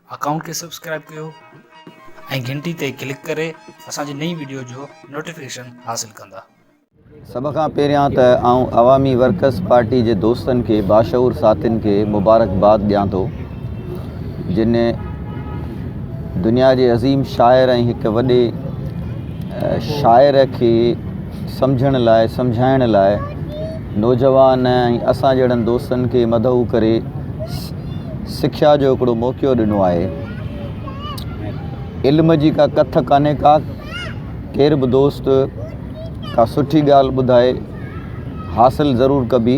Account کي subscribe ڪيو ۽ گهنٽي تي ڪلڪ ڪري اسان جي نئين وڊيو جو نوٽيفڪيشن حاصل ڪندا. سڀ کان پهريان ته آئون عوامي ورڪرز پارٽي جي دوستن کي باشعور ساٿين کي مبارڪباد ڏيان ٿو. جن دنيا جي عظيم شاعر ۽ هڪ وڏي شاعر کي سمجهڻ لاء سمجهائڻ لاء نوجوان ۽ اسان جهڙن دوستن کي مدعو ڪري سکيا جو هڪڙو موقعو ڏنو آهي علم جي ڪا ڪٿ ڪانهي ڪا ڪير به دوست ڪا سٺي ڳالهه ٻڌائي حاصل ضرور ڪبي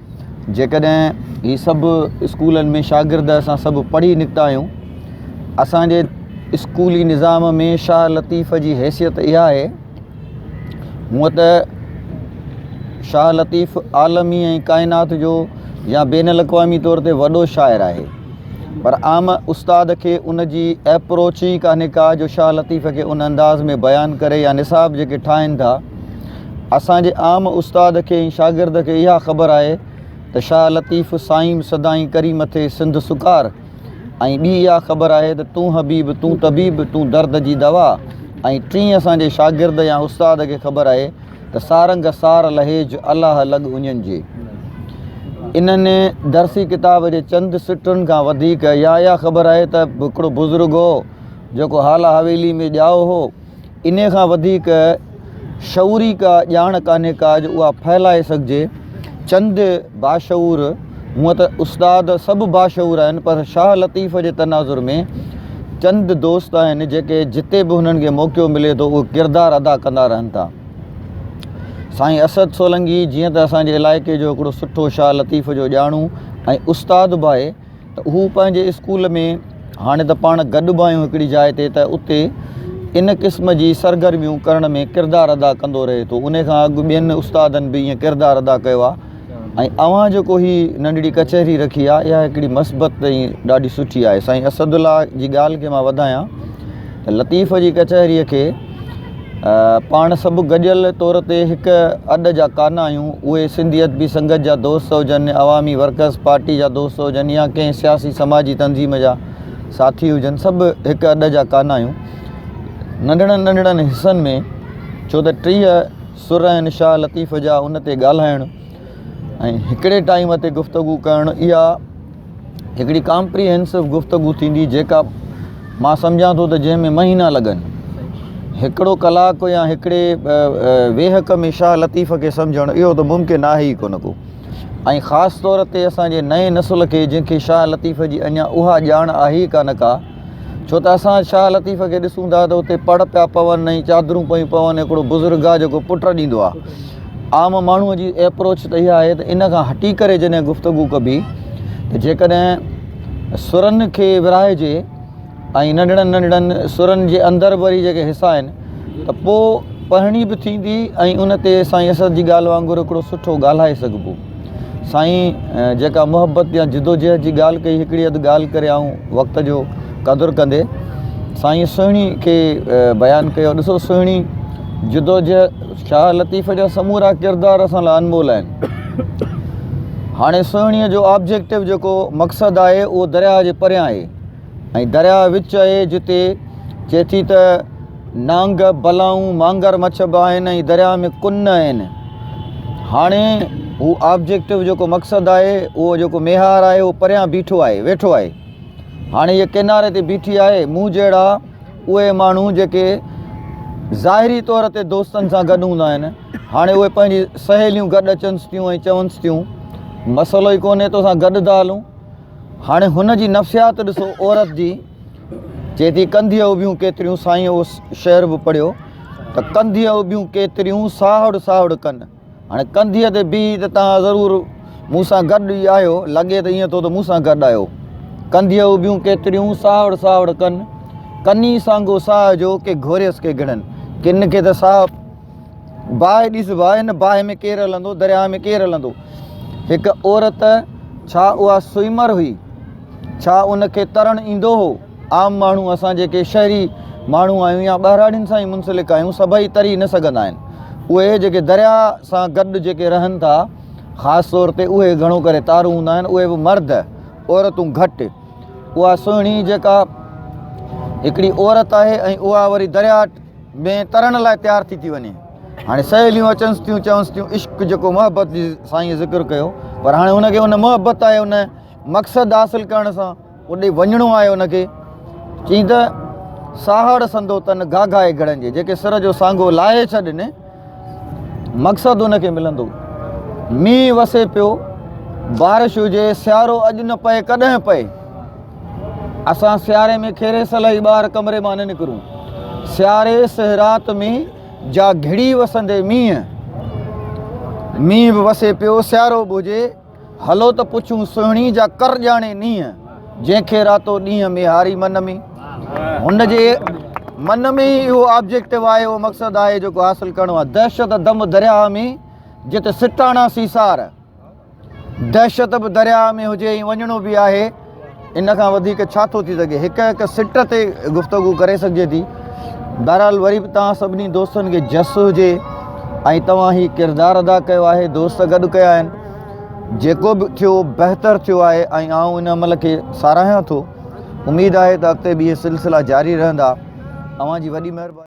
جيڪڏهن هي سڀ اسڪولن ۾ شاگرد اسان سڀ پڙهي نڪتا آهيون اسانجي اسڪولي نظام ۾ شاهه لطيف جي حيثيت اها آهي هونء ته شاهه لطيف عالمي ۽ ڪائنات جو يا بين الاقوامي طور تي وڏو شاعر آهي پر عام استاد کي ان جي اپروچ ئي ڪانهي ڪا جو شاهه لطيف کي ان انداز ۾ بيان ڪري يا نصاب جيڪي ٺاهن ٿا اسان جي عام استاد کي ۽ شاگرد کي اها خبر آهي ته شاهه لطيف صائم سدائين ڪري مٿي سنڌ سڪار ۽ ٻي اها خبر آهي ته تون حبيب تون طبيب تون درد جي دوا ۽ ٽين اسان جي شاگرد يا استاد کي خبر آهي ته سارنگ سار لهيج الاهه لڳ اڃن جي انهن درسي ڪتاب جي چند سٽن کان وڌيڪ يا اها خبر آهي ته هڪڙو بزرگ هو جيڪو هالا حويلي ۾ ڄائو هو انهيء کان وڌيڪ شعوري ڪا ڄاڻ ڪانهي ڪا جو اها ڦهلائي سگهجي. چند باشعور، هونء ته استاد سڀ باشعور آهن، پر شاهه لطيف جي تناظر ۾ چند دوست آهن، جيڪي جتي به هنن کي موقعو ملي ٿو، اهو ڪردار ادا ڪندا رهن ٿا. سائين اسد سولنگي جيئن ته اسان جي علائقي جو هڪڙو سٺو شاهه لطيف جو ڄاڻو ۽ استاد به آهي، ته هو پنهنجي اسڪول ۾ هاڻي ته پاڻ گڏ به آهيون هڪڙي جاء تي ته اتي ان قسم جي سرگرميون ڪرڻ ۾ ڪردار ادا ڪندو رهي ٿو انهي کان اڳ ٻين استادن به ائين ڪردار ادا ڪيو آهي ۽ اوهان جيڪو هي ننڍڙي ڪچهري رکي آهي اها هڪڙي مثبت ۽ ڏاڍي سٺي آهي سائين اسد الله جي ڳالهه کي مان وڌايان ته لطيف جي ڪچهري کي پاڻ سڀ گڏيل طور تي هڪ اڏ جا ڪانا آهيون، اهي سنڌيت بي سنگت جا دوست هجن، عوامي ورڪرز پارٽي جا دوست هجن يا ڪنهن سياسي سماجي تنظيم جا ساٿي هجن سڀ هڪ اڏ جا ڪانا آهيون. ننڍڙن ننڍڙن حصن ۾ ڇو ته ٽيهه سر آهن شاهه لطيف جا ان تي ڳالهائڻ ۽ هڪڙي ٽائيم تي گفتگو ڪرڻ اها هڪڙي ڪامپريهنسو گفتگو ٿيندي جيڪا مان سمجهان ٿو ته جنهن ۾ مهينا لڳن هڪڙو ڪلاڪ يا هڪڙي ويهڪ ۾ شاهه لطيف کي سمجهڻ اهو ته ممڪن آهي ئي ڪونه ڪو ۽ خاص طور تي اسان جي نئين نسل کي جنهن کي شاهه لطيف جي اڃا اها ڄاڻ آهي ڪانه ڪا ڇو ته اسان شاهه لطيف کي ڏسون ٿا ته اتي پڙ پيا پون ۽ چادرون پيون پون هڪڙو بزرگ آهي جيڪو پٽ ڏيندو آهي عام ماڻهو جي ايپروچ ته اها آهي ته ان کان هٽي ڪري جڏهن گفتگو ڪبي ته جيڪڏهن سرن کي ورهائجي ۽ ننڍڙن ننڍڙن سرن جي اندر وري جيڪي حصا آهن ته پوء پڙهڻي به ٿيندي ۽ ان تي سائين اسد جي ڳالهه وانگر هڪڙو سٺو ڳالهائي سگهبو سائين جيڪا محبت يا جدوجهد جي ڳالهه ڪئي هڪڙي اڌ ڳالهه ڪري آئون وقت جو قدر ڪندي سائين سهڻي کي بيان ڪيو ڏسو سهڻي جدوجهد شاهه لطيف جا سمورا ڪردار اسان لاء انمول آهن هاڻي سهڻي جو آبجيڪٽو جيڪو مقصد آهي اهو درياهه جي پريان آهي ۽ درياهه وچ آهي جتي چئي ٿي ته نانگ، بلائون، مانگر مڇ به آهن ۽ درياهه ۾ ڪن نه آهن. هاڻي هو آبجيڪٽو جيڪو مقصد آهي اهو جيڪو ميهار آهي اهو پريان بيٺو آهي ويٺو آهي. هاڻي هيء ڪيناري تي بيٺي آهي مون جهڙا اهي ماڻهو جيڪي ظاهري طور تي دوستن سان گڏ هوندا آهن هاڻي اهي پنهنجي سهيليون گڏ اچنس ٿيون ۽ چونس ٿيون مسئلو ئي ڪونهي توسان گڏ ٿا هلون. هاڻي هن جي نفسيات ڏسو عورت جي. چئي ٿي ڪنڌيء اڀيون ڪيتريون سائين اهو شعر به پڙهيو ته ڪنڌيء اڀيون ڪيتريون ساهڙ ساهڙ ڪن هاڻي ڪنڌيء تي بيهي ته توهان ضرور مون سان گڏ ئي آهيو لڳي ته ائين ٿو ته مون سان گڏ آهيو ڪنڌيء اڀيون ڪيتريون ساهڙ ساهڙ ڪن ڪني سانگو ساهه جو ڪي گهوريس ڪي گهڙن ڪن کي ته ساهه باهه ڏس باهه، هن باهه ۾ ڪير هلندو، درياهه ۾ ڪير هلندو. هڪ عورت، ڇا اها سوئيمر هئي؟ ڇا ان کي ترڻ ايندو هو؟ عام ماڻهو، اسان جيڪي شهري ماڻهو آهيون يا ٻهراڙين سان ئي منسلڪ آهيون، سڀئي تري نه سگهندا آهن. اهي جيڪي درياهه سان گڏ جيڪي رهن ٿا، خاص طور تي اهي گهڻو ڪري تارون هوندا آهن، اهي به مرد، عورتون گهٽ. اها سهڻي جيڪا هڪڙي عورت آهي ۽ اها وري درياهه ۾ ترڻ لاء تيار ٿي ٿي وڃي هاڻي سهيليون اچنس ٿيون چونس ٿيون عشق جيڪو محبت جي سائين ذڪر ڪيو پر هاڻي هن کي ان محبت آهي ان مقصد حاصل ڪرڻ سان اڏي وڃڻو آهي ان کي چي ته ساهڙ سندو تن گاگائي گھڙن جي جيڪي سر جو سانگو لاهي ڇڏن مقصد ان کي ملندو. مينهن وسي پيو، بارش هجي، سيارو اڄ نه پئي ڪڏهن پئي. اسان سياري ۾ کيري سلهي ٻاهر ڪمري مان نه نڪرون. سياري سهه رات ۾ جا گهڙي وسندي مينهن. مينهن به وسي پيو، سيارو به هجي. هلو ته پڇون سهڻي جا ڪر ڄاڻي نينهن جنهن کي راتو ڏينهن ميهاري من ۾ هن جي من ۾ ئي اهو آبجيڪٽو آهي اهو مقصد آهي جيڪو حاصل ڪرڻو آهي دهشت دم درياهه ۾ جت سٽاڻا سيسار دهشت به درياهه ۾ هجي ۽ وڃڻو به آهي ان کان وڌيڪ ڇا ٿو ٿي سگهي، هڪ هڪ سٽ تي گفتگو ڪري سگهجي ٿي. بهرحال وري به توهان سڀني دوستن کي جس هجي ۽ توهان هي ڪردار ادا ڪيو آهي، دوست گڏ ڪيا آهن. جيڪو به ٿيو بهتر ٿيو آهي ۽ آئون ان عمل کي ساراهيان ٿو. اميد آهي ته اڳتي به اهي سلسلا جاري رهندا. اوهان جي وڏي مهرباني.